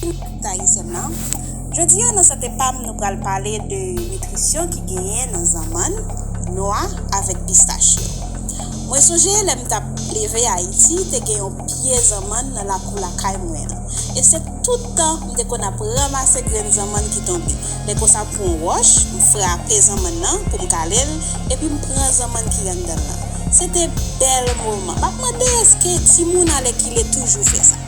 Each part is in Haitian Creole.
Tout Ayisyen nan, Jodi a nan Sante Pam nou pral pale de nitrisyon ki genyen nan zanmann, nwa avèk pistach yo. Mwen sonje lè m t ap leve Ayiti te gen yon pye zanmann nan lakou lakay mwen an e se tout tan m te konn ap ranmase grenn zanmann ki tonbe. Lè konsa m pran yon wòch m frape zanmann nan pou m kale l epi m pran zanmann ki anndan l lan. Se te bèl moman. M ap mande èske timoun alèkile toujou fè sa?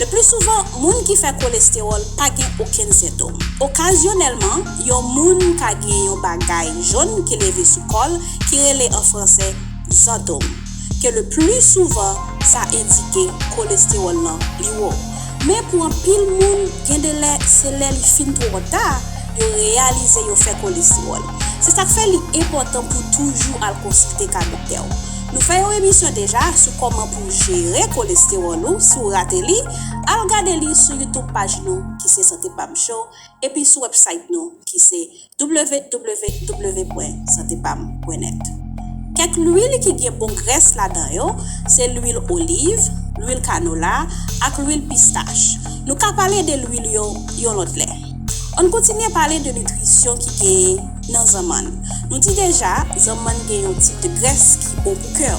Leplisouvan, moun ki fè kolestewòl pa gen okenn sentom. Okazyonèlman, yon moun ka gen yon bagay jòn ki leve sou kò l ki rele an franse zantom, ke leplisouvan sa endike kolestewòl lan li wo. Men pou anpil moun, gen de lè se lè li fin twò ta yo reyalize yo fè kolestewòl. Se sa k fè li enpòtan pou toujou al konsilte ka doktè w. Nou fè yon emisyon deja sou kòman. pou jere kolestewòl ou si w rate li, al gade li sou YouTube paj nou ki se Sante Pam Show epi sou wèbsayt nou ki se www.santepam.net. Kèk lwil ki gen bon grès ladan yo se lwil oliv, lwil kanola ak lwil pistach. Nou ka pale de lwil yo yon lòt lè. Ann kontinye pale de nitrisyon ki genyen nan zanmann. Nou di deja zanmann gen yon tip de grès ki bon pou kè w.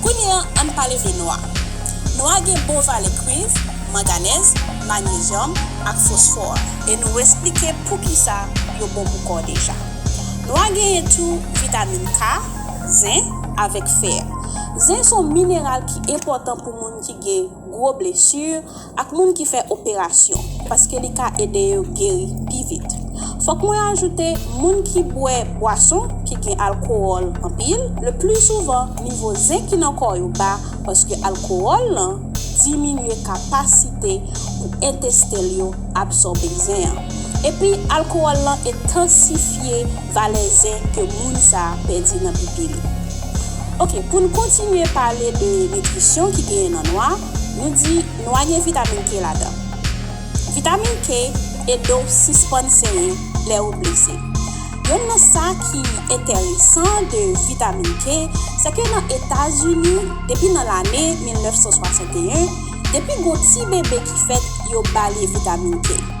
Kounye an, ann pale de nwa. Nwa gen bon valè kwiv, manganèz, magnezyòm ak fosfò e nou esplike poukisa yo bon pou kò deja. Nwa genyen tou vitamin K, zen, avèk fè. Zen son mineral ki enpòtan pou moun ki gen. gwo blesi, ak moun ki fè operasyon, paske li ka ede yo geri pi vit. Fòk mwen ajoute, moun ki bwè bwason ki gen alkowòl anpil, le pli souvan nivo zen ki nan kò yo ba paske alkowòl lan diminye kapasite pou entesten l yo absòbe zen an. Epi alkowòl lan entansifye valè zen ke moun sa pèdi nan pipi li. Ok pou n kontinye pale de nitrisyon ki genyen nan nwa, nou di nwa gen vitamin K ladan. Vitamin K ede w sispann senyen lè ou blese. Yonn nan sa ki enteresan de vitamin K se ke nan Etazini depi nan lane 1961 depi gon ti bebe ki fèt yo ba li vitamin K.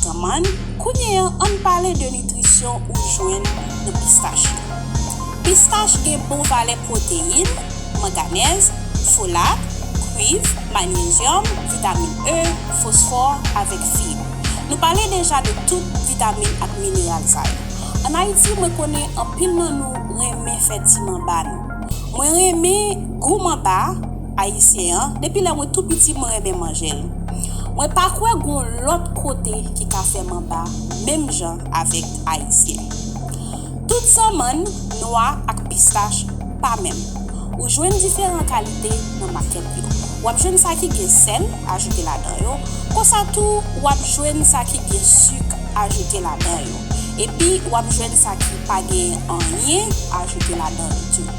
Tanman, kounye an ann pale de nitrisyon ou jwenn nan pistach yo. Pistach gen bon valè pwoteyin, manganèz, folat, kwiv, manyezyòm, vitamin E, fosfò, avèk fib. Nou pale deja de tout vitamin ak mineral sa yo. An Ayiti mwen konnen anpil nan nou renmen fè ti manba nou. Mwen renmen gou manba. Ayisyen an, depi lè mwen tou piti mwen renmen manje l. Mwen pa kwè gon lòt kote ki ka fè manba menm jan avèk Ayisyen. Tout zanmann, nwa ak pistach pa menm. Ou jwenn diferan kalite nan makèt yo. W ap jwenn sa ki gen sèl ajoute ladan yo, konsa tou w ap jwenn sa ki gen suk ajoute ladan yo. Epi w ap jwenn sa ki pa genyen anyen ajoute ladan yo tou.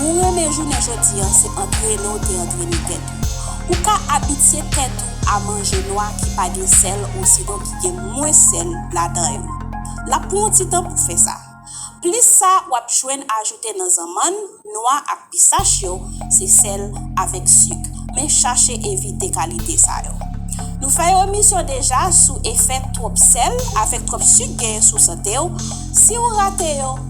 Ou renmen jounen jodi an se antrene w te antrene tèt ou. Ou ka abitye tèt ou a manje nwa ki pa gen sèl osinon ki gen mwens sèl ladan yo. L ap pran w ti tan pou fè sa. Plis sa w ap jwenn ajoute nan zanmann, nwa ak pistach yo se sèl avèk sik. Men chache evite kalite sa yo. Nou fè yon emisyon deja sou efè twòp sèl avèk twòp sik genyen sou sante w. Si ou rate yo,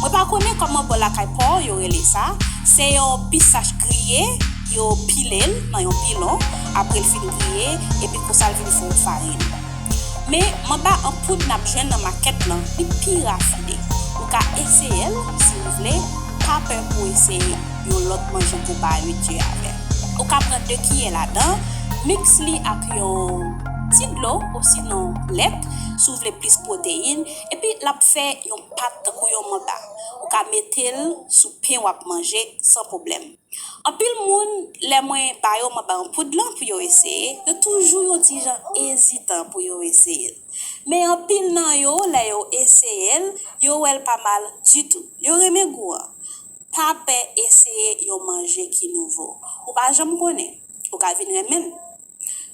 Mwen pa konnen kòman bò lakay pa w yo rele sa, se yon pisach griye, yo pile l nan yon pilon apre l fin griye epi konsa l vin fon farin. Men, manba an poud n ap jwenn nan makèt lan, li pi rafine. Ou ka eseye l, si w vle, pa pè pou w eseye yon lòt manje goba a ui Dieu avè. Ou ka pran 2 kiyè ladan, miks li ak yon ti dlo osinon lèt, si w vle plis pwoteyin, epi l ap fè yon. pat tankou yon manda. Ou ka metel sou pen wap manje san pwoblèm. Anpil moun lè mwen ba yo manba an poud lan pou yo eseye, yo toujou yon ti jan ezitan pou yo eseyel. Men anpil nan yo lè yo eseyel, yo wèl pa mal ditou. Yo renmen gou an. Pa pè eseye yon manje ki nouvo. Ou pa janm konnen. Ou ka vin renmenl.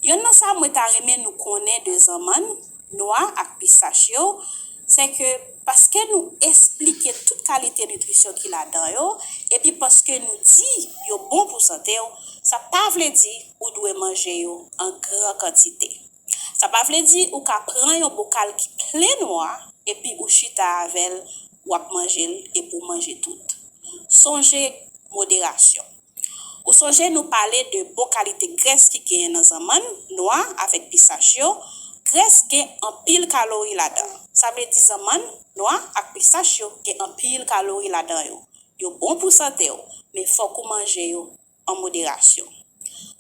Yonn nan sa mwen ta renmen nou konnen de zanmann, nwa ak pistach yo, se ke paske nou esplike tout kalite nitrisyon ki ladan yo, epi paske nou di yo bon pou sante w, sa pa vle di ou dwe manje yo an gran kantite. Sa pa vle di ou ka pran yon bokal ki plen nwa epi ou chita avè l wap manje l epi w manje tout. Sonje moderasyon. Ou sonje nou pale de bon kalite grès ki genyen nan zanmann, nwa avèk pisach yo, grès gen anpil kalori ladan. Sa vle di zanmann, nwa ak pisach yo gen anpil kalori ladan yo. Yo bon pou sante w, men fòk ou manje yo an moderasyon.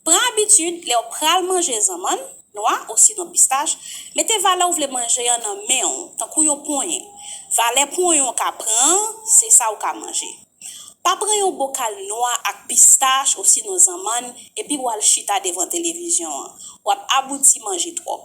Pran abitid lè w pral manje zanmann, nwa osinon pistach, mete valè ou vle manje an nan men w, tankou yon ponyen. Valè ponyen w ka pran an, se sa ou ka manje. Pa pran yon bokal nwa ak pistach osinon zanmann epi w al chita devan televizyon an. W ap abouti manje twòp.